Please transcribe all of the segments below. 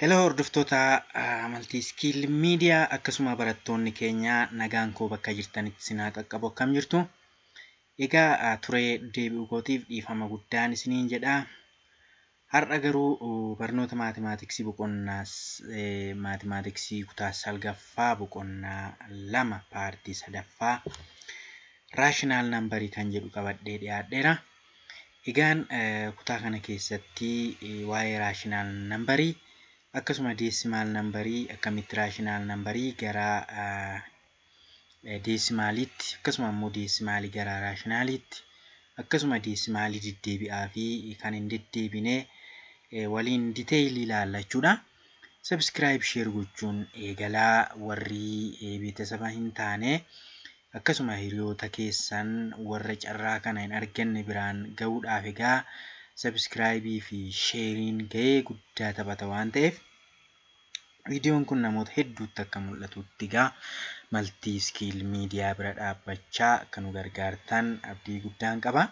Heloo hordoftoota amantii iskiil miidiyaa akkasuma barattoonni keenya nagaan koo bakka jirtanitti isin haa qaqqabu akkam jirtu. Egaa turee deebi'uu kootiif dhiifama guddaan isiniin jedha. Har'a garuu barnoota maatimaatiksii boqonnaa maatimaatiksii kutaa salgaffaa boqonnaa lama paartii sadaffaa raashinaal nambarii kan jedhu qabadhee dhiyaadheera. Egaan kutaa kana keessatti waa'ee raashinaal nambarii akkasuma deesimaal nambarii akkamitti raashinaal nambarii gara deesimaaliitti akkasuma immoo deesimaalii gara raashinaaliitti akkasuma deesimaalii deddeebi'aa fi kan hin deddeebine waliin diteeyilii ilaalla jechuudha. Sabiskiraayib sheer gochuun eegalaa warri beetasaba hin taane akkasuma hiriyoota keessan warra carraa kana hin arganne biraan gahuudhaaf egaa sabiskiraayibii fi sheeriin gahee guddaa taphata waan ta'eef Viidiyoon kun namoota hedduutti akka mul'atutti gaa Maltii Skill Media bira dhaabbachaa akka nu gargaartan abdii guddaan qaba.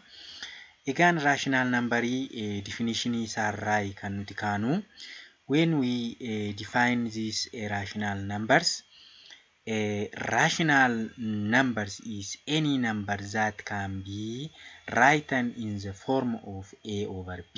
Egaan raashinaal nambarii difinishinii isaarraayi kan nuti kaanu when we eh, define these eh, rational numbers eh, rational numbers is any number that can be written in the form of a over b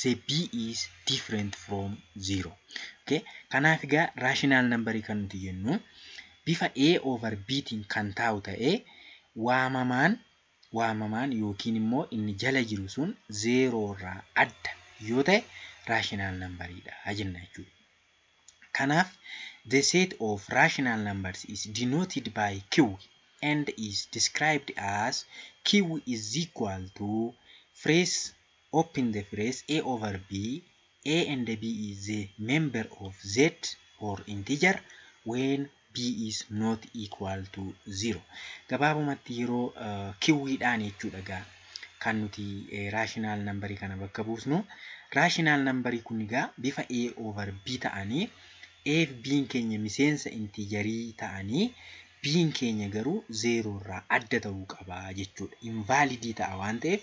say b is different from 0 okay kanaaf egaa rational number kan nuti jennu bifa a over b tiin kan taa'u ta'ee waamamaan waamamaan yookiin immoo inni jala jiru sun 0 irraa adda yoo ta'e rational number dha jenna jechuudha. Kanaaf the set of rational numbers is denoted by q and is described as q is equal to phrase open the phrase A over B, A and B is the member of Z or integer when B is not equal to 0. Gabaabumatti yeroo kiwwiidhaan jechuudha gaa kan nuti raashinaal nambarii kana bakka buusnu. Raashinaal nambarii kun gaa bifa A over B ta'anii A fi B'n keenya miseensa intiijarii ta'anii B'n keenya garuu zeeroo irraa adda ta'uu qaba jechuudha. Invaalidii ta'a waan ta'eef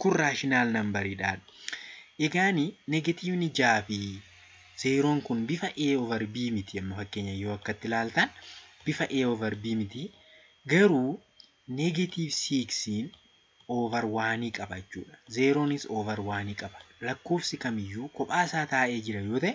Kun raashinaal nambariidha. Egaan negatiivni 6 fi zeeroon kun bifa A over B miti amma fakkeenya yoo akkatti ilaaltan bifa A over B miti garuu negatiiv 6 over 1 qaba jechuudha. Zeeroonis over 1 qaba. Lakkoofsi kamiyyuu kophaa isaa taa'ee jira yoo ta'e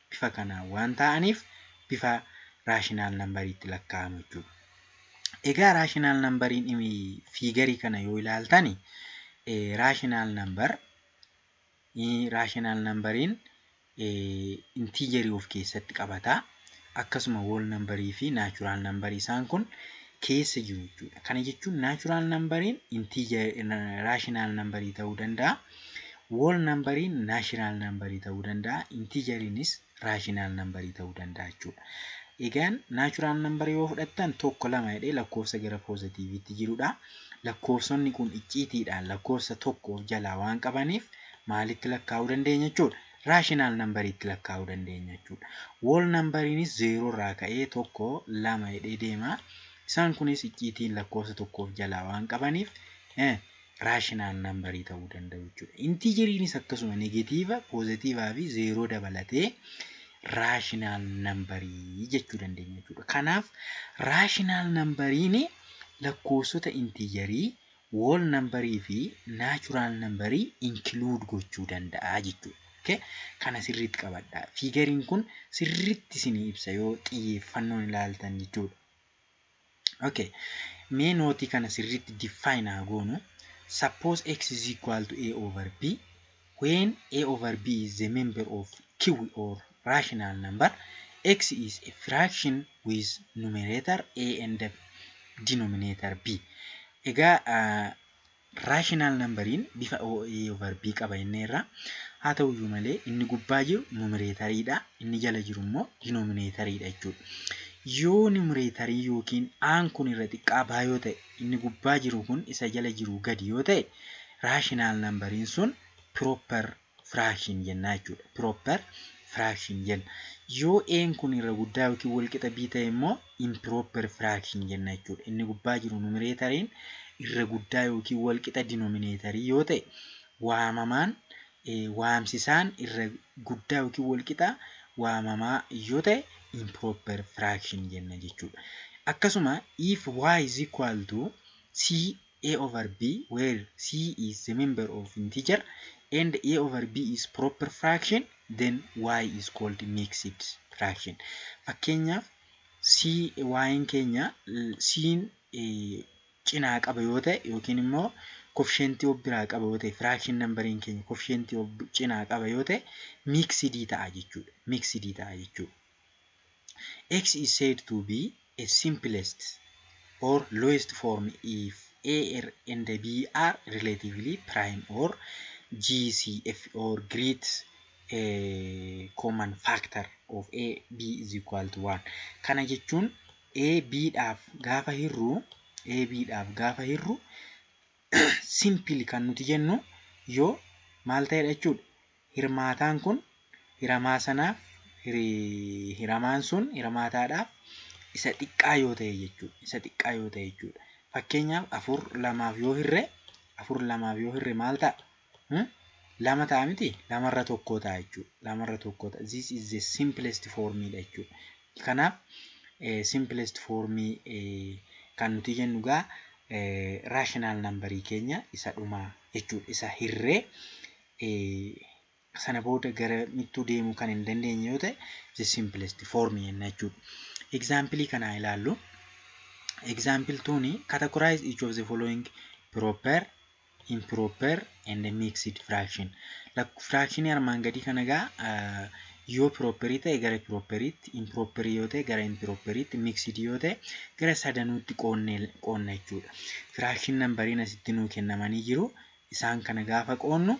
bifa kanaan waan taa'aniif bifa raashinaal nambariitti lakkaa'amu jechuudha. Egaa raashinaal nambariin fiigarii kana yoo ilaaltan raashinaal nambar raashinaal nambariin intiijerii of keessatti qabata. Akkasuma wool nambarii fi naachuraal nambarii isaan kun keessa jiru jechuudha. Kana jechuun naachuraal nambariin intiijarii raashinaal nambarii ta'uu danda'a. Wool nambariin naashinaal nambarii ta'uu danda'a. Intiijariinis raashinaal nambarii ta'uu danda'a jechuudha. Egaan naachuraal nambarii yoo fudhattan tokko lama jedhee lakkoofsa gara poozitiiviitti jirudha. Lakkoofsonni kun icciitiidhaan lakkoofsa tokko of jalaa waan qabaniif maalitti lakkaa'uu dandeenya jechuudha. rational number itti lakkaa'uu dandeenya jechuudha. Whole number inis 0 irraa ka'ee 1, 2 jedhee deema. Isaan kunis icciitiin lakkoofsa tokko of jalaa waan qabaniif rational number ta'uu danda'u jechuudha. Intigeriinis akkasuma negatiiva, poozitiivaa fi 0 dabalatee rational number jechuu dandeenya jechuudha. Kanaaf rational number lakkoofsota intigerii wool nambarii fi naachuraal nambarii inkluud gochuu danda'a jechuudha. ok kana sirriitti qabadhaa. Fiigariin kun sirriitti isinii ibsa yoo xiyyeeffannoon ilaaltan jechuudha. ok mee nootii kana sirriitti define haa goonu. Suppose x is equal to a over b When a over b is a member of Q or rational number, x is a fraction with numerator a and denominator b. Egaa rational numberiin bifa a over b qaba jenneerra. Haa ta'uyyuu malee inni gubbaa jiru numerator dha, inni jala jiru immoo denominator dha jechuudha. Yoo numerator yookiin aan kun irra xiqqaa baa yoo ta'e inni gubbaa jiru kun isa jala jiruu gadi yoo ta'e rational numberiin sun proper fraction jennaa jechuudha. Proper fraction jenna. Yoo a'n kun irra guddaa yookiin wal qixa b ta'e immoo improper fraction jenna jechuudha. Inni gubbaa jiru numereetariin irra guddaa yookiin wal qixa dinominator yoo ta'e waamamaan waamsisaan irra guddaa yookiin walqixa waamamaa yoo ta'e improper fraction jenna jechuudha. Akkasuma if y is equal to C a over b where C is the member of integer and a over b is proper fraction then y is called mixed fraction. Fakkeenyaaf C y'n keenya C'n cinaa qaba yoo ta'e yookiin immoo kofisheentii of biraa qaba yoo ta'e firaakshin nambariin keenya kofisheentii of cinaa qaba yoo ta'e miiksidii ta'a jechuudha. Miiksidii ta'a jechuudha. X is said to be a simplest or lowest form if A R and B are relatively prime or G C F or great eh, common factor of A B is equal to 1. Kana jechuun AB dhaaf gaafa hirru AB dhaaf gaafa hirru simpili kan nuti jennu yoo maal ta'edha jechuudha hirmaataan kun hiramaa sanaaf hiramaan sun hirmaataadhaaf isa xiqqaa yoo ta'e jechuudha isa xiqqaa yoo ta'e jechuudha fakkeenyaaf afur lamaaf yoo hirre afur lamaaf yoo hirre maal ta'a Hmm? lama ta'a miti lamarra tokkoo ta'a jechuudha lamarra tokkoo ta'a this is the simplest form dha jechuudha kanaaf eh, simplest form eh, kan nuti jennu gaa eh, rational number keenya isa dhumaa jechuudha isa hirree eh, sana booda gara mittuu deemuu kan hin dandeenye yoo ta'e the simplest form jenna jechuudha example kanaa ilaallu example tuuni categorize each of the following proper improper and mixed fraction firaakshinii armaan gadii kana egaa yoo pirooperii ta'e gara pirooperiitti impiroopperii yoo ta'e gara impirooperiitti miksidi yoo ta'e gara sadanuutti qoonna jechuudha firaakshin nambariin asitti nuu kennamanii jiru isaan kana gaafa qoonnu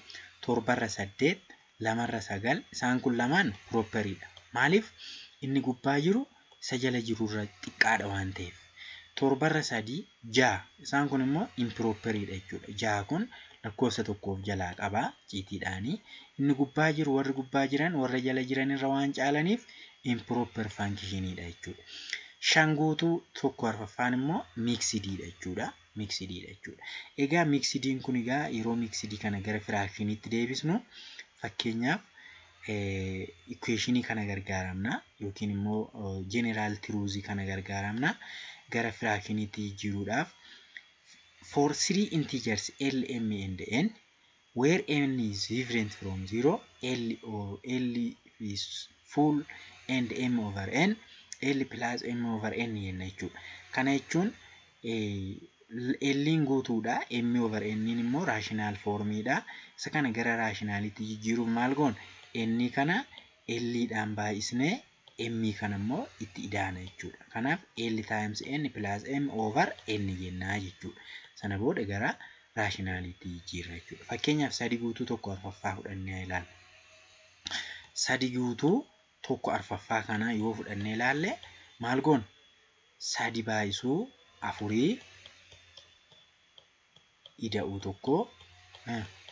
torbarra saddeet 2 irra 9 isaan kun lamaan proper dha. Maaliif inni gubbaa jiru isa jala jiru irra xiqqaadha waan ta'eef. 7 irra 3 6 isaan kun immoo improper dha jechuudha. 6 kun lakkoofsa tokko of jalaa qaba ciitiidhaani. Inni gubbaa jiru warri gubbaa jiran warra jala jiran irra waan caalaniif improper function dha jechuudha. 5 guutuu tokko arfaffaan immoo mixed dha jechuudha. miksidi dha jechuudha. Egaa miksidiin kun egaa yeroo miksidi kana gara firaakshiniitti deebisnu fakkeenyaaf ikweeshinii kana gargaaramna yookiin immoo jeneraal tiruuzii kana gargaaramna gara firaakshiniitti jijjiiruudhaaf for three integers L, M and N Where n is different from 0, L, o, L is full and m over n, L plus m over n jenna jechuudha. Kana jechuun L'n guutuudha, m over n immoo raashinaal foormiidha. Isa kana gara raashinaaliitti jijjiiruuf maal goona? N kana L dhaan baay'isnee M kana immoo itti idaana jechuudha. Kanaaf L times N plus M over N jennaa jechuudha. Sana booda gara raashinaaliitti jijjiirra jechuudha. Fakkeenyaaf sadi guutuu tokko arfaffaa fudhannee ilaalla. Sadi guutuu tokko arfaffaa kana yoo fudhannee ilaalle maal goona? Sadi baay'isuu afurii ida'uu tokko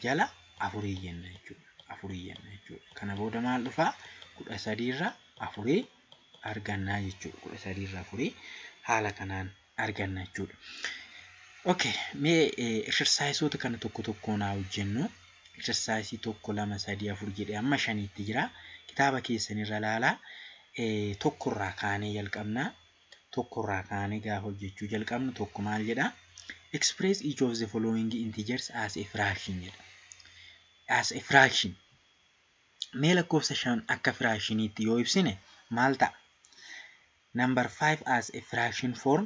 jala afurii jenna jechuudha. Afurii jenna jechuudha. Kana booda maal dhufaa? Kudha sadiirra afurii argannaa jechuudha. Kudha sadiirra afurii haala kanaan arganna jechuudha. Okay, mee exercise kana tokko tokkoon haa hojjennu. Exercise tokko lama sadii afur jedhee amma shaniitti jira. Kitaaba keessanirra laalaa tokkorraa kaanee jalqabnaa. tokko irraa kaanee gaafa hojjechuu jalqabnu tokko maal jedha express each of the following integers as a fraction jedha as a fraction mee lakkoofsa shan akka firaakshiniitti yoo ibsine maal ta'a number 5 as a fraction form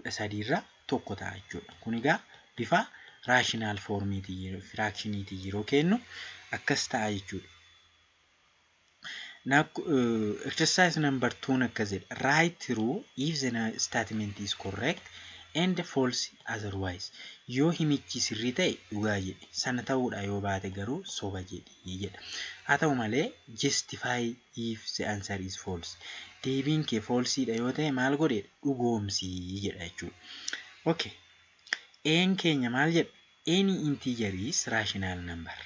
13 irraa tokko ta'a jechuudha. Kun egaa bifa raashinaal foormiitiin yeroo firaakshiniitiin yeroo keennu akkas ta'a jechuudha. Now uh, exercise number 2 akka jedhe write true if the na- statement is correct and false otherwise yoo himichi sirrii ta'e dhugaa jedhi sana ta'uudha yoo baate garuu soba jedhi jedha haa ta'u malee justify if the answer is false deebiin kee false dha yoo ta'e maal godhi dhugoomsi jedha jechuudha okay een keenya maal jedha any integer is rational number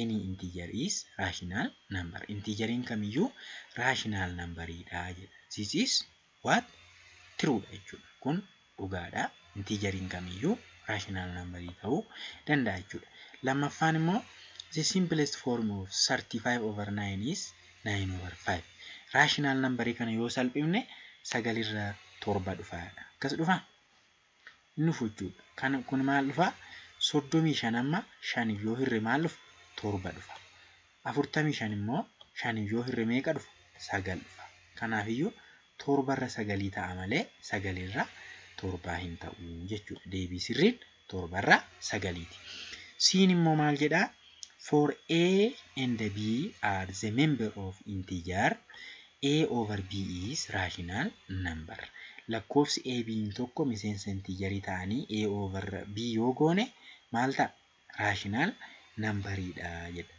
any integer is rational number integeriin kamiyyuu rational number dha jedha this is What? True dha jechuudha. Kun dhugaadha. Intiijariin kamiyyuu rational number ta'uu danda'a jechuudha. Lammaffaan immoo the simplest form of 35 over 9 is 9 over 5. Rational number kana yoo salphifne sagalirra torba dhufa. Akkas dhufa? hin dhufu jechuudha. Kan kun maal dhufa? soddomii shan amma shan yoo hirre maal dhufa? torba dhufa. afurtamii shan immoo shan yoo hirre meeqa dhufa? sagal dhufa. Kanaafiyyuu torbarra sagalii ta'a malee sagalirra torbaa hin ta'u jechuudha. Deebii sirriin torbarra sagaliiti. Siin immoo maal jedhaa? For A and B are the member of integer, A over B is rational number. Lakkoofsi A, B'n tokko miseensa intiijarii ta'anii A over B yoo goone maal ta'a? Rational number dha jedha.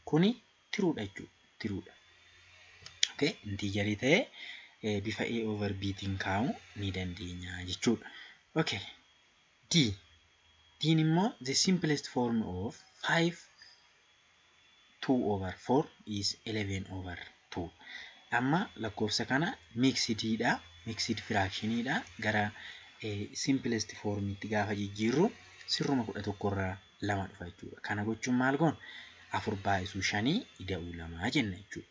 Kuni true dha jechuudha. True dha. Okay? Intiijarii ta'e bifa A over B tiin kaa'uu ni dandeenya jechuudha. Okay. D. Dn immoo the simplest form of 5 2 over 4 is 11 over 2. Amma lakkoofsa kana mixed dha, mixed fraction dha. Gara eh, simplest form itti gaafa jijjiirru sirruma 11 irraa lama dhufa jechuudha. Kana gochuun maal goon? Afur baay'isuu shanii ida'uu lamaa jenna jechuudha.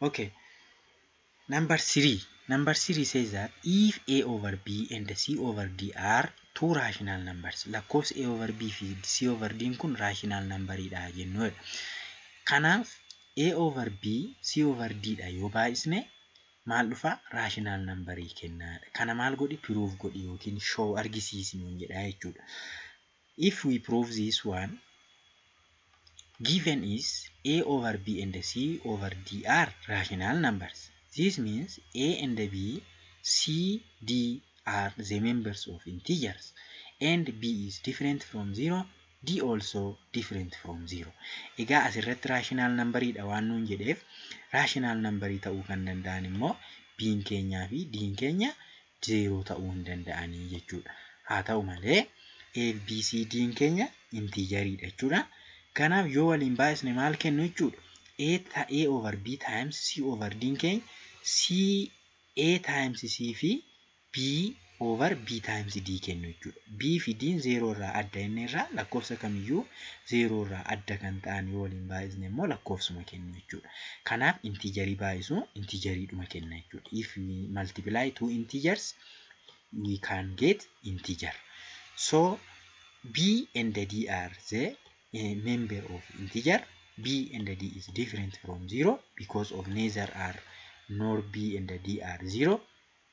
Okay. Number three. Number three says that if A over B and C over D are two rational numbers. Lakkoofsi A over B fi C over D kun rational number dha jennuudha. Kanaaf A over B C over D dha yoo baay'isne maal dhufa rational number kennaadha. Kana maal godhi proof godhi yookiin show argisiisi nuun jedha jechuudha. If we prove this one, given is a over b and c over d are rational numbers. This means a and b, c, d are the members of integers and b is different from 0, d also different from 0. Egaa asirratti rational number dha waan nuun jedheef rational number ta'uu kan danda'an immoo b'n keenyaa fi d'n keenya zeeroo ta'uu hin danda'anii jechuudha. Haa ta'u malee ABCD'n keenya intiijariidha jechuudha. Kanaaf yoo waliin baay'isne maal kennu jechuudha? A ta A over B times C over D'n keenya C A times C fi B over B times D kennu jechuudha. B fi D zeeroo irraa adda inni irraa lakkoofsa kamiyyuu zeeroo irraa adda kan ta'an yoo waliin baay'isne immoo lakkoofsuma kennu jechuudha. Kanaaf intiijarii baay'isu intiijariidhuma kenna jechuudha. If we multiply two integers we can get integer. So B and D are the uh, member of integer. B and D is different from zero because of neither are nor B and D are zero.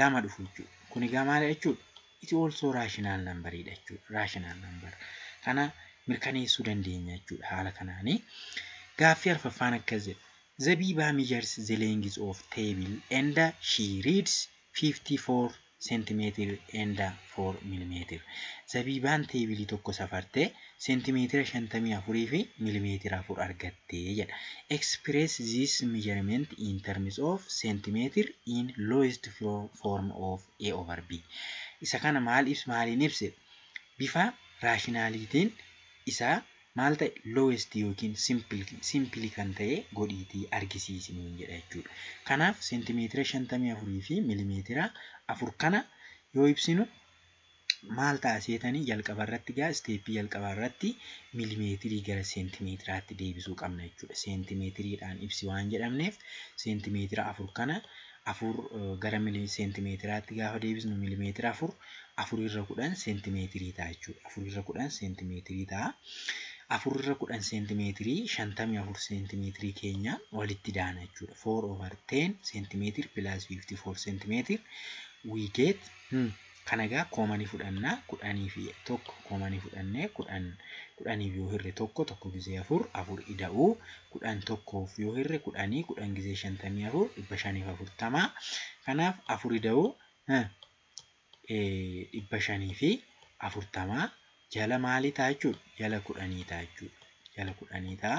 lama dhufu jechuudha. Kun egaa maal jechuudha? It also rational number dha jechuudha. Rational number. Kana mirkaneessuu dandeenya jechuudha haala kanaani. Gaaffii arfaffaan akkas jedha. Zabiba measures the length of table and she reads 54 centimeter and 4 millimeter. Zabibaan teebilii tokko safartee seentimeetira 54 fi milimeetira 4 argatte jedha. Express this measurement in terms of centimeter in lowest form of A over B. Isa kana maal ibs maaliin ibse? Bifa raashinaaliitiin isaa maal ta'e lowest yookiin simple simple kan ta'e godhiitii argisiisi nuun jedha jechuudha. Kanaaf seentimeetira 54 fi milimeetira 4 kana yoo ibsinu maal ta'a seetanii jalqaba irratti gaa isteeppii jalqabaa irratti milimeetirii gara seentimeetiraatti deebisuu qabna jechuudha. Seentimeetiriidhaan ibsi waan jedhamneef seentimeetira afur kana afur gara seentimeetiraatti gaafa deebisnu milimeetira afur afurirra kudhan seentimeetirii ta'a jechuudha. Afurirra kudhan seentimeetirii ta'a. Afurirra kudhan seentimeetirii shantamii afur seentimeetirii keenya walitti daana jechuudha. Four over ten seentimeetir pilaas fiiftii four seentimeetir we get Kana egaa kooma ni fudhanna. Kudhanii fi tokko kooma ni fudhannee kudhan kudhaniif yoo hirre tokko tokko gizee afur afur ida'uu kudhan tokkoof yoo hirre kudhanii kudhan gizee shantamii afur dhibba shaniif afurtama kanaaf afur ida'uu dhibba shanii fi afurtama jala maalii ta'a jechuudha jala kudhanii ta'a jechuudha jala kudhanii ta'a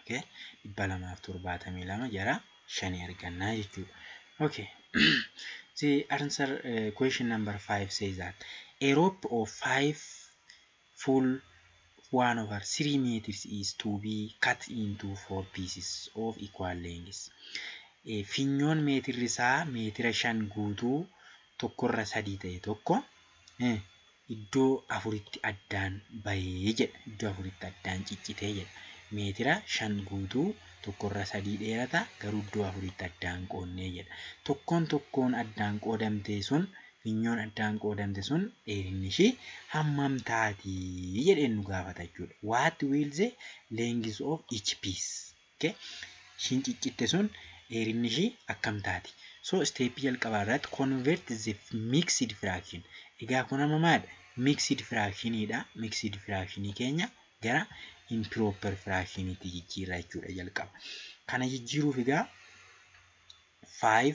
Okay. dhibba lamaaf torbaatamii lama jara shanii argannaa jechuudha. Okay. The answer uh, question number five says that a rope of five full one over three meters is to be cut into four pieces of equal lengths. Eh, Finyoon meetirri isaa meetira shan guutuu tokkorra sadii ta'e tokko iddoo afuritti addaan bahee jedha. Iddoo afuritti addaan ciccitee jedha. Meetira shan guutuu tokkorra sadii dheerata garuu iddoo afuritti addaan qoonnee jedha. Tokkoon tokkoon addaan qoodamtee sun finyoon addaan qoodamte sun dheerinni ishii hammam taati jedheen nu gaafata jechuudha. What will the length of each piece? Okay ishiin ciccitte sun dheerinni ishii akkam taati so step jalqabaa irratti convert the mixed fraction egaa kun amma maal mixed fraction dha mixed fraction keenya gara improper fraction itti jijjiirra jechuudha jalqaba kana jijjiiruuf egaa 5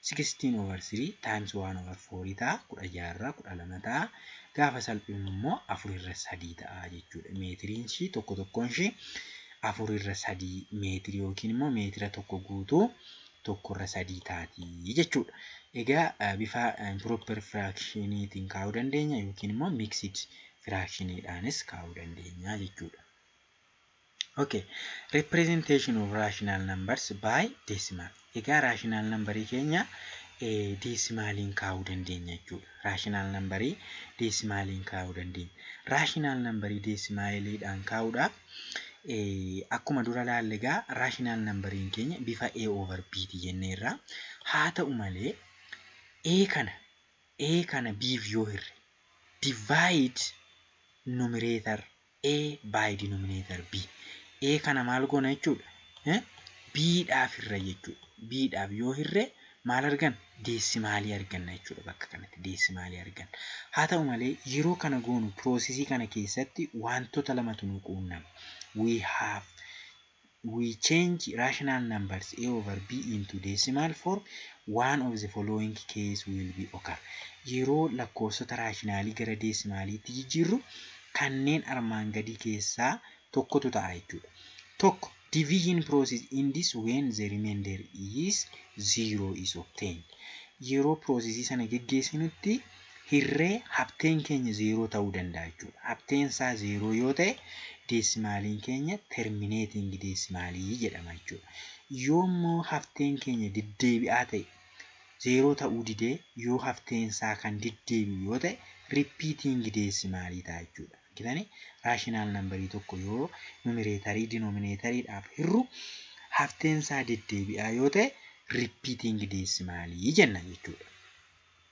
sixteen over three times one over four ta'a. kudha ja'a irraa kudha lama ta'a. Gaafa salphifnu immoo afur irra sadii ta'a jechuudha. Meetiriin ishii tokko tokkoon ishii afur irra sadii meetirii yookiin immoo meetira tokko guutuu tokko irra sadii taati jechuudha. Egaa eh, bifa improper firaakshiniitiin kaa'uu dandeenya yookiin immoo mixed firaakshiniidhaanis kaa'uu dandeenya jechuudha. Okay. Representation of rational numbers by decimal. Egaa rational number keenya deesimaaliin kaa'uu dandeenya jechuudha. Rational number deesimaaliin kaa'uu dandeenya. Rational number deesimaaliidhaan kaa'uudhaaf akkuma dura laalle egaa rational number keenya bifa A over B ti jennee irraa haa ta'u malee A kana A kana B'f yoo hirre divide numerator a by denominator b a kana maal goona jechuudha eh? b dhaaf hirra jechuudha b dhaaf yoo hirre maal argan deessimaalii arganna jechuudha bakka kanatti deessimaalii argan haa ta'u malee yeroo kana goonu piroosesii kana keessatti wantoota lamatu nu quunnama we have We change rational numbers a over b into decimal form, one of the following case will be occur. Yeroo lakkoofsota raashinaalii gara deesimaaliitti jijjiirru kanneen armaan gadii keessaa tokkotu ta'a jechuudha. Tokko, Division process ends when the remainder is zero is obtained. Yeroo piroosesii sana geggeessinutti hirree habteen keenya zeeroo ta'uu danda'a jechuudha. Habteen isaa zeeroo yoo ta'e deesimaaliin keenya termineetiingi deesimaalii jedhama jechuudha. Yoo immoo habteen keenya deddeebi'aa ta'e zeeroo ta'uu didee yoo habteen isaa kan deddeebi'u yoo ta'e rippiitiingi deesimaalii ta'a jechuudha. Argitanii raashinaal nambarii tokko yoo numireetarii dinoomineetariidhaaf hirru habteen isaa deddeebi'aa yoo ta'e rippiitiingi deesimaalii jenna jechuudha.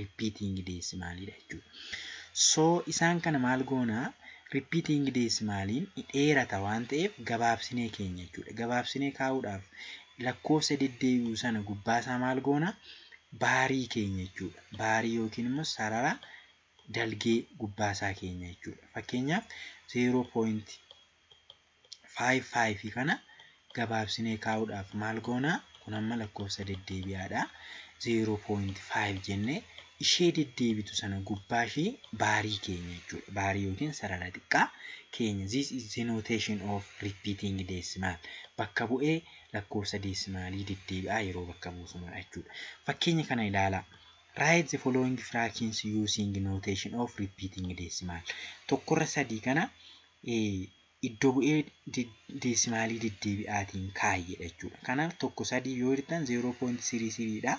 repeating decimal dha jechuudha. So isaan kana maal goona repeating decimal ni dheerata waan ta'eef gabaabsinee keenya jechuudha. Gabaabsinee kaa'uudhaaf lakkoofsa deddeebi'u sana gubbaasaa maal goona baarii keenya jechuudha. Baarii yookiin immoo sarara dalgee gubbaasaa keenya jechuudha. Fakkeenyaaf 0. 5 5 kana gabaabsinee kaa'uudhaaf maal goona kun amma lakkoofsa deddeebi'aadha 0.5 jennee ishee deddeebitu sana gubbaa ishee baarii keenya jechuudha baarii yookiin sarara xiqqaa keenya this is the notation of repeating decimal bakka bu'ee lakkoofsa deesimaalii deddeebi'aa yeroo bakka buusumudha jechuudha fakkeenya kana ilaalaa write the following fractions using notation of repeating decimal tokkorra sadii kana iddo bu'ee deesimaalii deddeebi'aatiin kaayedha jechuudha. Kanaaf tokko sadii yoo hirtan 0.33 dha.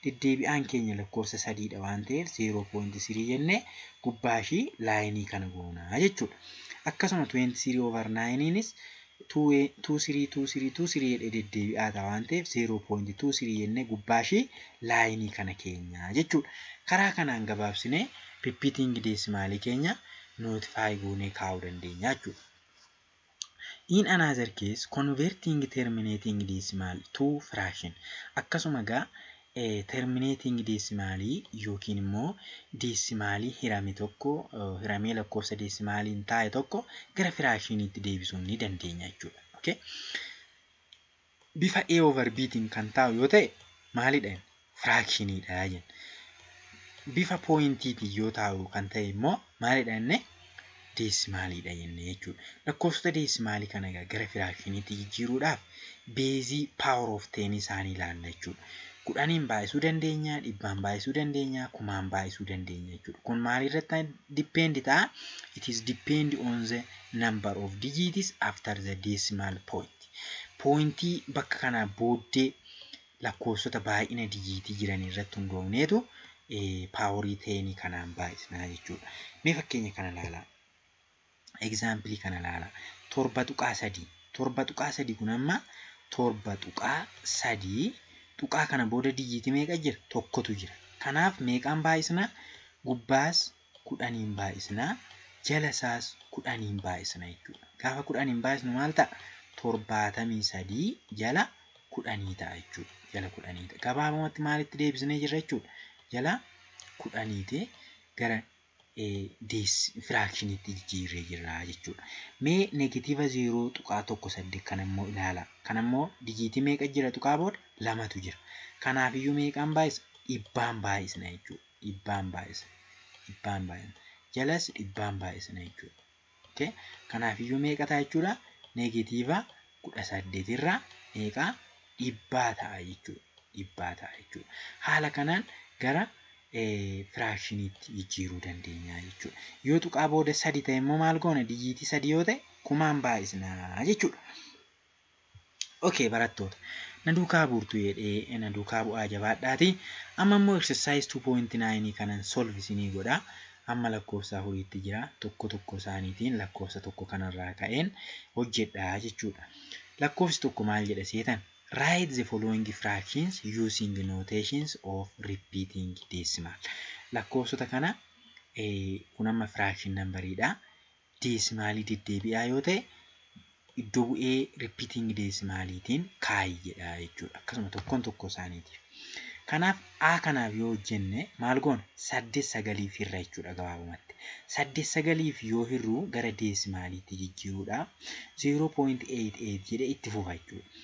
Deddeebi'aan keenya lakkoofsa sadiidha waan ta'eef 0.3 jennee gubbaa ishii laayinii kana goona jechuudha. Akkasuma 23 over 9nis 232323 jedhee deddeebi'aa ta'a waan ta'eef 0.23 jennee gubbaa ishii laayinii kana keenya jechuudha. Karaa kanaan gabaabsinee riippiitiingi deesimaalii keenya notify goonee kaa'uu dandeenya jechuudha. In another case, converting terminating decimal to fraction. Akkasuma egaa eh, terminating deesimaalii yookiin immoo deesimaalii hirame tokko eh, hiramee lakkoofsa deesimaaliin taa'e tokko gara firaakshiniitti deebisuun ni dandeenya jechuudha. Okay? bifa A over B tiin kan taa'u yoo ta'e maalidha jenna? Firaakshiniidha jenna. Bifa pooyintiitiin yoo taa'u kan ta'e immoo maalidha jenne? Deesimaaliidha jenne jechuudha. Lakkoofsota deesimaalii kana egaa gara firaakshiniitti jijjiiruudhaaf beezii power of 10 isaanii ilaalla jechuudha. Kudhaniin baay'isuu dandeenya, dhibbaan baay'isuu dandeenya, kumaan baay'isuu dandeenya jechuudha. Kun maalirratti depend ta'a? It is depend on the number of digits after the decimal point. Pooyintii bakka kanaa booddee lakkoofsota baay'ina dijiitii jiran irratti hundoofneetu paaworii teenii kanaan baay'isnaa jechuudha. Mee fakkeenya kana ilaalaa. Egzaampilii kana ilaalaa. Torba tuqaa sadii. Torba tuqaa sadii kun amma torba tuqaa sadii tuqaa kana booda dijiitii meeqa jira? Tokkotu jira. Kanaaf meeqaan baay'isnaa? Gubbaas kudhaniin baay'isna. Jala isaas kudhaniin baay'isna jechuudha. Gaafa kudhaniin baay'isnu maal ta'a? Torbaatamii sadii jala kudhanii ta'a jechuudha. Jala kudhanii ta'a. Gabaabumatti maalitti deebisnee jirra jechuudha? Jala kudhaniiti gara firaakshiniitti jijjiirree jirra jechuudha. Mee negatiiva zeeroo tuqaa tokko saddeet kan ammoo ilaala. Kan ammoo dijiitii meeqa jira tuqaa booda lamatu jira. Kanaafiyyuu meeqaan baay'isa? Dhibbaan baay'isna jechuudha. dhibbaan baay'isa. Dhibbaan baay'ina. Jalas dhibbaan baay'isna jechuudha. Okay? Kanaaf iyyuu meeqa ta'a jechuudha? Neegatiiva kudha saddeet irraa meeqa dhibbaa ta'a jechuudha. Dhibbaa ta'a jechuudha. Haala kanaan gara firaakshiniitti jijjiiruu dandeenya jechuudha. Yoo tuqaa booda sadi ta'e immoo maal goona? Dijiitii sadi yoo ta'e kumaan baay'isna jechuudha. Okay barattoota na duukaa buurtu jedhee na duukaa bu'aa jabaadhaati. Amma immoo exercise 2.9 kanan solve isinii godha. Amma lakkoofsa afuriitti jira. Tokko tokko isaaniitiin lakkoofsa tokko kanarraa ka'een hojjedha jechuudha. Lakkoofsi tokko maal jedha seetan? Write the following fractions using notations of repeating decimal. Lakkoofsota kana kun amma fraction number dha. deesimaalii deddeebi'aa yoo ta'e iddoo bu'ee ripiitingi deesimaaliitiin kaayi jedha jechuudha. Akkasuma tokkoon tokko isaaniitiif. Kanaaf A kanaaf yoo hojjenne maal goona? Saddeet sagaliif hirra jechuudha gabaabumatti. Saddeet sagaliif yoo hirru gara deesimaaliitti jijjiiruudha. 0.88 jedhee itti fufa jechuudha.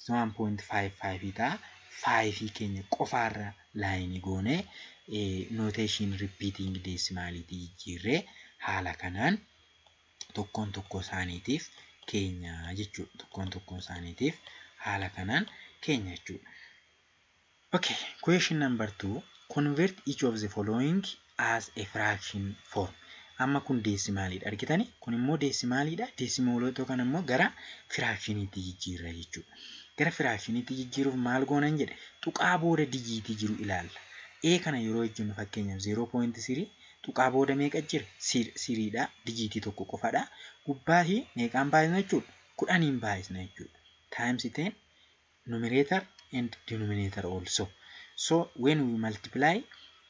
Isa 1.55 ta'a. 5 keenya qofaarra laayinii goone notation repeating deesimaaliitti jijjiirre haala kanaan tokkoon tokkoo isaaniitiif keenya jechuudha. Tokkoon tokkoon isaaniitiif haala kanaan keenya jechuudha. Ok question number two convert each of the following as a fraction form amma kun deesimaaliidha argitani kun immoo deesimaaliidha deesimoolota kan immoo gara firaakshiniitti jijjiirra jechuudha gara firaakshiniitti jijjiiruuf maal goonan jedhe tuqaa booda dijiitii jiru ilaalla ee kana yeroo hojjennu fakkeenyaaf 0.3 tuqaa booda meeqa jira siriidha dijiitii tokko qofadha gubbaa fi meeqaan baay'isna jechuudha kudhaniin baay'isna jechuudha times 10 numerator and denominator also so when we multiply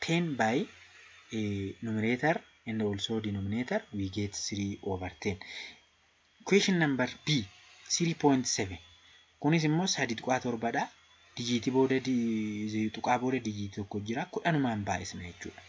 10 by uh, numerator and also denominator we get 3 over 10 question number b 3.7 kunis immoo sadii tuqaa torbadha dijiitii booda tuqaa booda dijiitii tokko jira kudhanumaan baay'isna jechuudha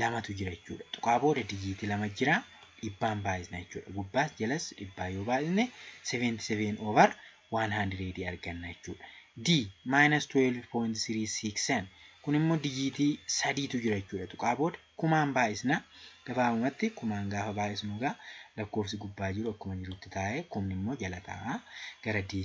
lamatu jira jechuudha. Tuqaa booda dijiitii lama jira. Dhibbaan baay'isna jechuudha. Gubbaas jalas dhibbaa yoo baay'isne 77 over 100 arganna jechuudha. D minus 12.367 kun immoo dijiitii sadiitu jira jechuudha. Tuqaa booda kumaan baay'isna. Gabaabumatti kumaan gaafa baay'isnu egaa lakkoofsi gubbaa jiru akkuma jirutti taa'ee kumni immoo jala taa'a. Gara D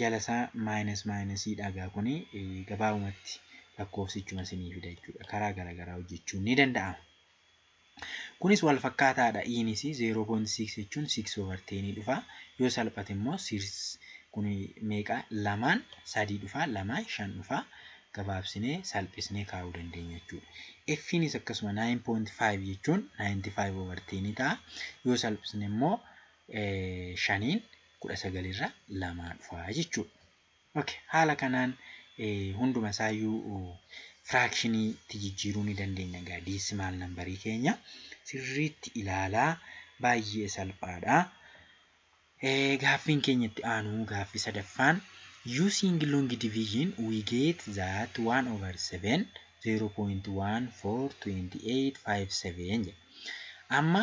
jala isaa minus minus dha egaa kuni gabaabumatti lakkoofsichuma isinii fida jechuudha karaa garaagaraa hojjechuun ni danda'ama. Kunis wal fakkaataadha iinis 0.6 jechuun 6 over 10 dhufa yoo salphate immoo kun meeqa lamaan sadii dhufa lamaan shan dhufa gabaabsinee salphisnee kaa'uu dandeenya jechuudha. Ffiinis akkasuma 9.5 jechuun 95 over 10 ta'a yoo salphisne immoo shaniin 19 irraa lamaa dhufa jechuudha. Okay. Haala kanaan hunduma isaayyuu firaakshiniitti jijjiiruu ni dandeenya egaa diisimaal nambarii keenya sirriitti ilaalaa baay'ee salphaadha. Gaaffiin keenya itti aanu gaaffii sadaffaan using long division we get that 1 over 7 0.142857 jedha. Amma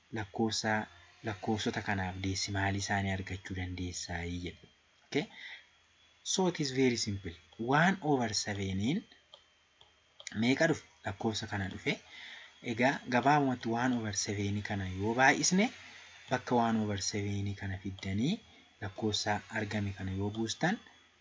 lakkoofsaa lakkoofsota kanaaf deesimaalii isaanii argachuu dandeessaayi jedha. ok so it is very simple 1 over 7n meeqa dhufe lakkoofsa kana dhufe egaa gabaabumatti 1 over 7 kana yoo baay'isne bakka 1 over 7 kana fiddanii lakkoofsa argame kana yoo buustan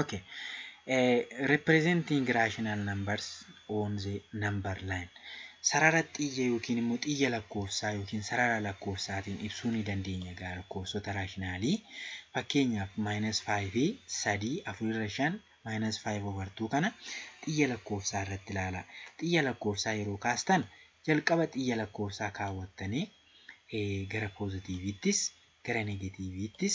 Okay. Eh, representing rational numbers on the number line. Sarara xiyya yookiin immoo xiyya lakkoofsaa yookiin sarara lakkoofsaatiin ibsuu ni dandeenya egaa lakkoofsota raashinaalii. Fakkeenyaaf maayinasi faayivii sadii afurirra shan maayinasi faayiv over tuu kana xiyya lakkoofsaa irratti ilaala. Xiyya lakkoofsaa yeroo kaastan jalqaba xiyya lakkoofsaa kaawwattanii eh, gara poozitiiviittis gara negatiiviittis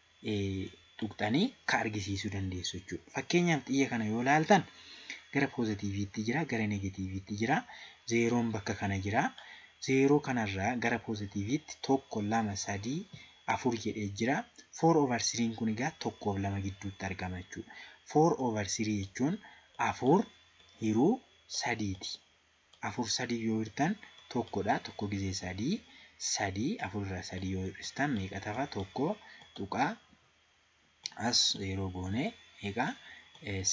tuqxanii ka argisiisuu dandeessu jechuudha. Fakkeenyaaf xiyya kana yoo laaltan gara poozitiiviitti jira, gara negatiiviitti jira, zeeroon bakka kana jira. Zeeroo kanarraa gara poozitiiviitti tokko, lama, sadii, afur jedhee jira. Foor over siriin kun egaa tokkoof lama gidduutti argama jechuudha. Foor over sirii jechuun afur hiruu sadiiti. afur sadii yoo hirtan tokkodha tokko gizee sadii sadii afur irraa sadii yoo hir'istan meeqa tafa tokko tuqaa as yeroo goone meeqa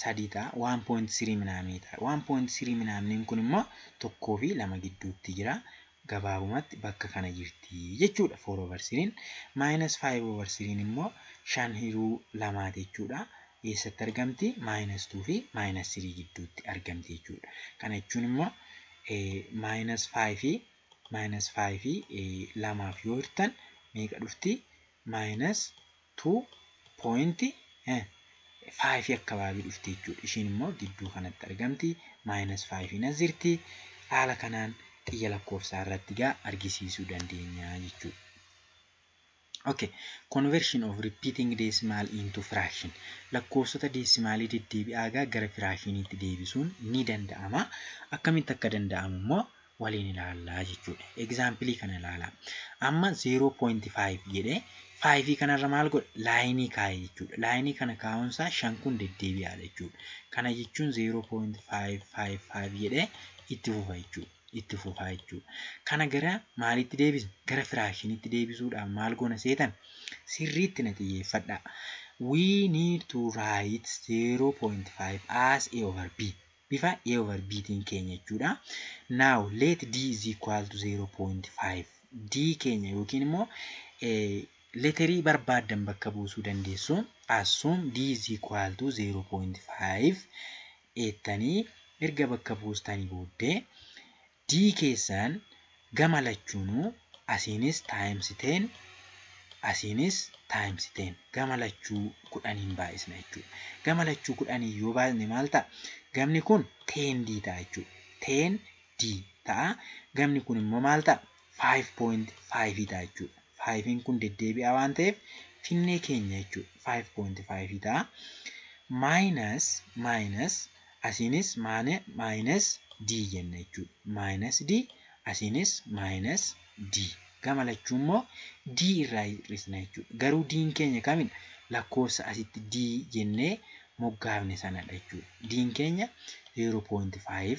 sadii ta'a waan poointi sirii minaamii ta'a waan poointi sirii minaamniin kun immoo tokkoo fi lama gidduutti jira gabaabumatti bakka kana jirti jechuudha foor over siriin maayinas faayiv over siriin immoo shan hiruu lamaati jechuudha. eessatti argamti? Maayinas 2 fi maayinas 3 gidduutti argamti jechuudha. Kana jechuun immoo maayinas 5 fi maayinas 5 fi lamaaf yoo hirtan meeqa dhufti? Maayinas 2.5 akkabaabii dhufti jechuudha. Ishiin immoo gidduu kanatti argamti. Maayinas 5 nas jirti. Haala kanaan xiyya lakkoofsaa irratti gaa argisiisuu dandeenya jechuudha. Okay. Conversion of repeating decimal into fraction. Lakkoofsota deesimaalii deddeebi'aa egaa gara firaashiniitti deebisuun ni danda'ama. Akkamitti akka danda'amu immoo waliin ilaallaa jechuudha. Egzaampilii kana ilaalaa. Amma 0.5 jedhee 5 kanarra maal godhe? Laayinii kaa'e jechuudha. Laayinii kana kaa'uunsaa 5 kun deddeebi'aadha jechuudha. Kana jechuun 0.555 jedhee itti fufa jechuudha. itti fufaa jechuudha. Kana gara maaliitti deebisna? Gara firaakshiniitti deebisuudhaaf maal goona seetan? Sirriitti na xiyyeeffadhaa. We need to write 0.5 as a over b. Bifa a over b tiin keenya jechuudha. Now let d is equal to 0.5. d keenya yookiin immoo leterii barbaaddan bakka buusuu dandeessu. Assume d is equal to 0.5 eettanii erga bakka buustanii booddee D keessaan gama lachuunuu asiinis times 10 asiinis times 10 gama lachuu kudhaniin baay'isna jechuudha. Gama lachuu kudhaniin yoo baay'isne maal ta'a? Gamni kun 10D ta'a jechuudha. 10D ta'a. Gamni kun immoo maal ta'a? 5.5 ta'a jechuudha. 5n kun deddeebi'aa waan ta'eef finnee keenya jechuudha. 5.5 ta'a. Maayinas maayinas asiinis maane maayinas d jenna jechuudha. Maayinas d asiinis maayinas d. Gama lachuu immoo d irraa hir'isna jechuudha. Garuu d'n keenya kamidha? Lakkoofsa asitti d jennee moggaafne sanadha jechuudha. D'n keenya 0.5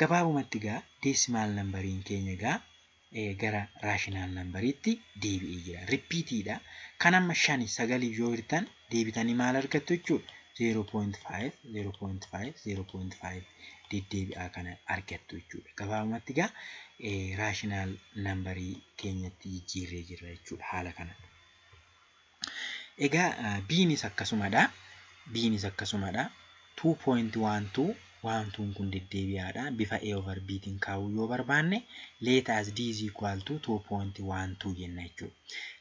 Gabaabumatti egaa deesimaal nambariin keenya egaa gara raashinaal nambariitti deebi'ee jira. Rippiitiidha. Kan amma shani sagaliif yoo hirtan deebitanii maal argattu jechuudha? 0.5, 0.5, 0.5 deddeebi'aa kana argattu jechuudha. Gabaabumatti egaa raashinaal nambarii keenyatti jijjiirree jirra jechuudha haala kanaan. Egaa biinis akkasumadha. Biinis akkasumadha. 2.12 waantuun kun deddeebi'aadha. Bifa A over B tiin kaa'uu yoo barbaanne let as D is equal to 2.12 jenna jechuudha.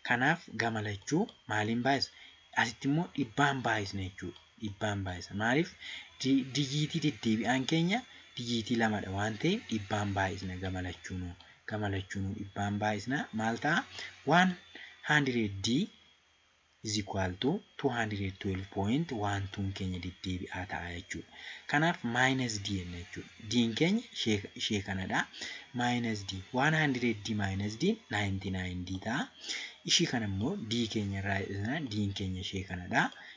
Kanaaf gama lachuu maaliin baay'isna? Asitti immoo dhibbaan baay'isna jechuudha. dhibbaan baay'isa. Maaliif dijiitii deddeebi'aan keenya dijiitii lamadha waan ta'eef dhibbaan baay'isna gama lachuunuu. Gama lachuunuu dhibbaan baay'isna maal ta'a? 100D is equal to 212.12 keenya deddeebi'aa ta'a jechuudha. Kanaaf minus D jenna jechuudha. D'n keenya ishee kanadha. Minus D 100D minus D 99D ta'a. Ishii kana immoo D keenya irraa hir'isna. D'n keenya ishee kanadha.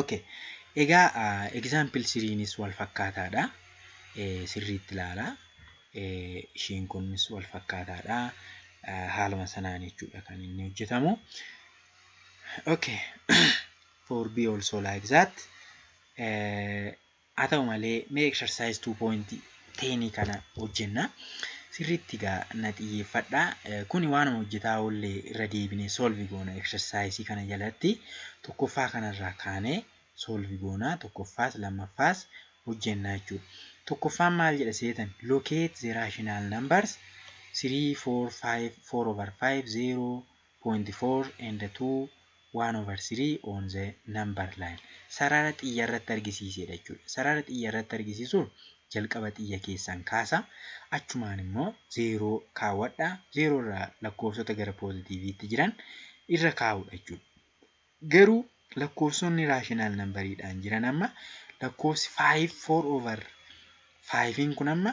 Okay. Egaa example siriinis wal fakkaataadha. Sirriitti ilaala. Ishiin kunis wal fakkaataadha. Haaluma sanaan jechuudha kan inni hojjetamu. Okay. For B also like that. Haa ta'u malee mee exercise 2.10 kana hojjenna. Sirriitti egaa na xiyyeeffadha. Kuni waanuma hojjetaa oolle irra deebine solve goona exercise kana jalatti tokkoffaa kanarraa kaanee solve goona tokkoffaas lammaffaas hojjenna jechuudha. Tokkoffaan maal jedha seetan locate the rational numbers 3 4 5 4 over 5 0 point four and two one over three on the number line sarara xiyya irratti argisiiseedha jechuudha. Sarara xiyya irratti argisiisuun jalqaba xiyya keessan kaasa achumaan immoo zeeroo kaawwadha zeeroo irraa lakkoofsota gara poozitiiviitti jiran irra kaa'uudha jechuudha. Garuu lakkoofsonni raashinaal nambariidhaan jiran amma lakkoofsi five four over five'n kun amma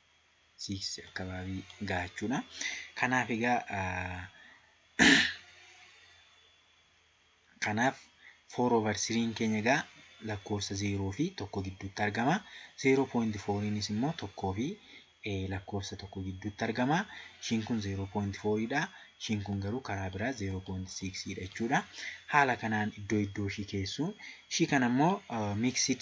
siiksii akkabaabii gaha jechuudha. Kanaaf egaa kanaaf foor over siriin keenya egaa lakkoofsa zeeroo fi tokko gidduutti argama. Zeeroo poointi fooriinis immoo tokkoo fi lakkoofsa tokko gidduutti argama. Ishiin kun zeeroo poointi fooriidha. Ishiin kun garuu karaa biraa zeeroo poointi siiksiidha jechuudha. Haala kanaan iddoo iddoo ishii keessu. Ishii kana immoo miiksiid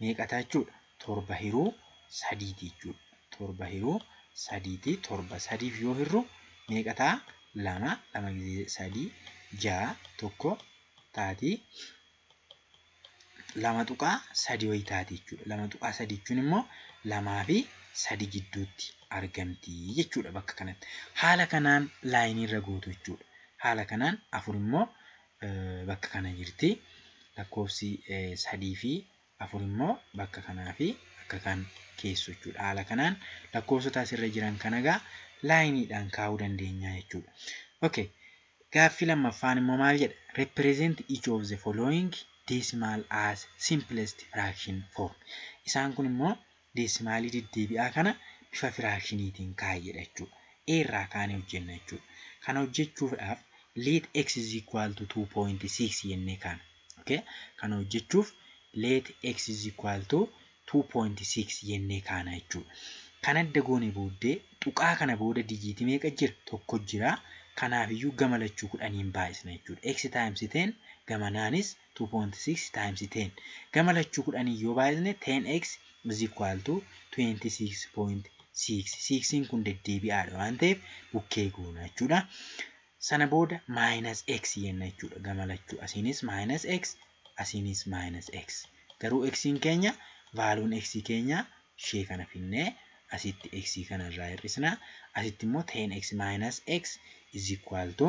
meeqa ta'a jechuudha? Torba hiruu sadiiti jechuudha. Torba hiruu sadiiti. Torba sadiif yoo hirru meeqa ta'a? Lama. Lama gizee sadii ja'a tokko taati. Lama tuqaa sadii wayi taati jechuudha. Lama tuqaa sadii jechuun immoo lamaa fi sadi gidduutti argamti jechuudha bakka kanatti. Haala kanaan laayinii irra gootu jechuudha. Haala kanaan afur immoo bakka kana jirti. Lakkoofsi sadii fi afur immoo bakka kanaa fi bakka kan keessu jechuudha. Haala kanaan lakkoofsota asirra jiran kana egaa laayiniidhaan kaa'uu dandeenya jechuudha. Okay. Gaaffii lammaffaan immoo maal jedha? Represent each of the following decimal as simplest fraction form. Isaan kun immoo deesimaalii deddeebi'aa kana bifa firaakshiniitiin kaa'i jedha jechuudha. A irraa kaanee hojjenna jechuudha. Kana hojjechuufdhaaf let x is equal to 2.6 jennee kaana. Okay? Kana hojjechuuf let x is equal to 2.6 jennee kaana jechuudha. Kan adda goone booddee tuqaa kana booda dijiitii meeqa jira? Tokko jira. Kanaafiyyuu gama lachuu kudhaniin baay'isna jechuudha. x times 10 gamanaanis 2.6 times 10 gama lachuu kudhaniin yoo baay'isne 10x is equal to 26.6 siiksiin kun deddeebi'aadha waan ta'eef bukkee goona jechuudha. Sana booda minus x jenna jechuudha gama lachuu asiinis minus x asiinis minus x garuu xiin keenya vaaluun x keenya ishee kana finnee asitti x kana irraa hir'isna asitti immoo 10x minus x is equal to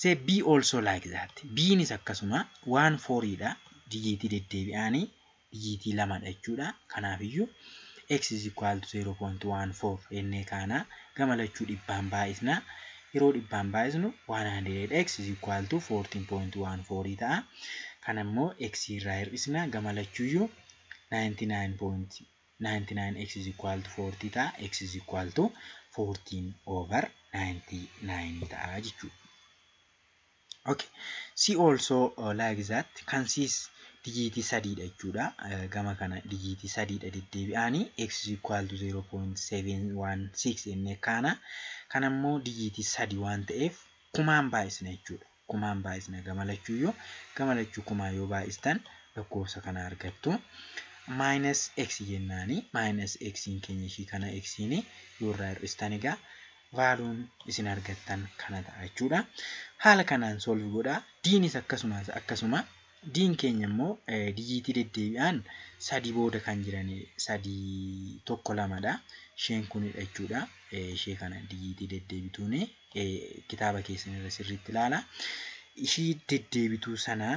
Say B also like that. Bnis akkasuma waan foriidha. Dijiitii deddeebi'aani dijiitii lamadha jechuudha. Kanaafiyyuu x is equal to 0.14 jennee kaana. Gama lachuu dhibbaan baay'isna. Yeroo dhibbaan baay'isnu 100x is equal to 14.14 ta'a. Kana immoo x irraa hir'isna. Gama lachuuyyuu 99 x is equal to 40 ta'a x is equal to 14 over 99 ta'a jechuudha. Okay. See also uh, like that kan siis dijiitii sadiidha jechuudha. Uh, gama kana dijiitii sadiidha deddeebi'aanii x is equal to 0.716 inni kaana kan ammoo dijiitii sadi waan ta'eef kumaan baay'isna jechuudha. kumaan baay'isna gama lachuuyyuu gama lachuu kumaan yoo baay'istan lakkoofsa kana argattu maayinas x jennaani maayinas x keenya ishii kana x yoo irraa hir'istan egaa vaaluun isin argattan kana ta'a jechuudha haala kanaan solvi godha diinis akkasumas akkasuma D'n keenya immoo dijiitii deddeebi'aan 3 booda kan jiran 3, 1, 2 dha. Isheen kunidha jechuudha. Ishee kana dijiitii deddeebituun kitaaba keessan irra sirriitti ilaala. Ishii deddeebituu sana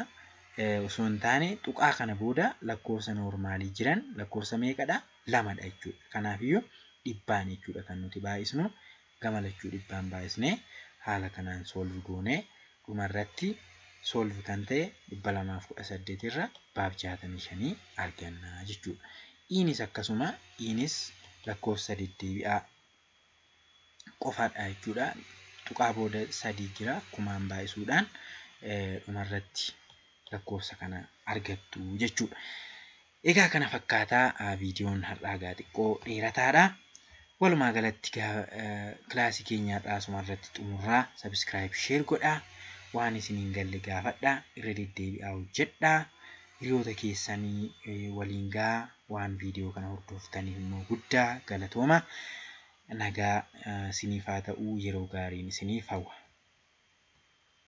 osoo hin taane tuqaa kana booda lakkoofsa noormaalii jiran lakkoofsa meeqadha? Lamadha jechuudha. Kanaafiyyuu dhibbaan jechuudha kan nuti baay'isnu. gama lachuu dhibbaan baayisnee haala kanaan solve goonee dhuma irratti solve kan ta'e 218 irra baab 65 arganna jechuudha. Iinis akkasuma iinis lakkoofsa deddeebi'aa qofaadha jechuudha. Tuqaa booda sadii jira kumaan baay'isuudhaan dhumarratti lakkoofsa kana argattu jechuudha. Egaa kana fakkaata viidiyoon har'aa gaa xiqqoo dheerataadha. Walumaa galatti gaa kilaasii keenya har'aa asuma irratti xumurraa sabiskiraayib sheer godhaa waan isin hin galle gaafadha irra deddeebi'aa hojjedha hiriyoota keessanii waliin gaa waan viidiyoo kana hordoftaniif immoo guddaa galatooma nagaa isiniif haa ta'uu yeroo gaariin isiniif hawwa.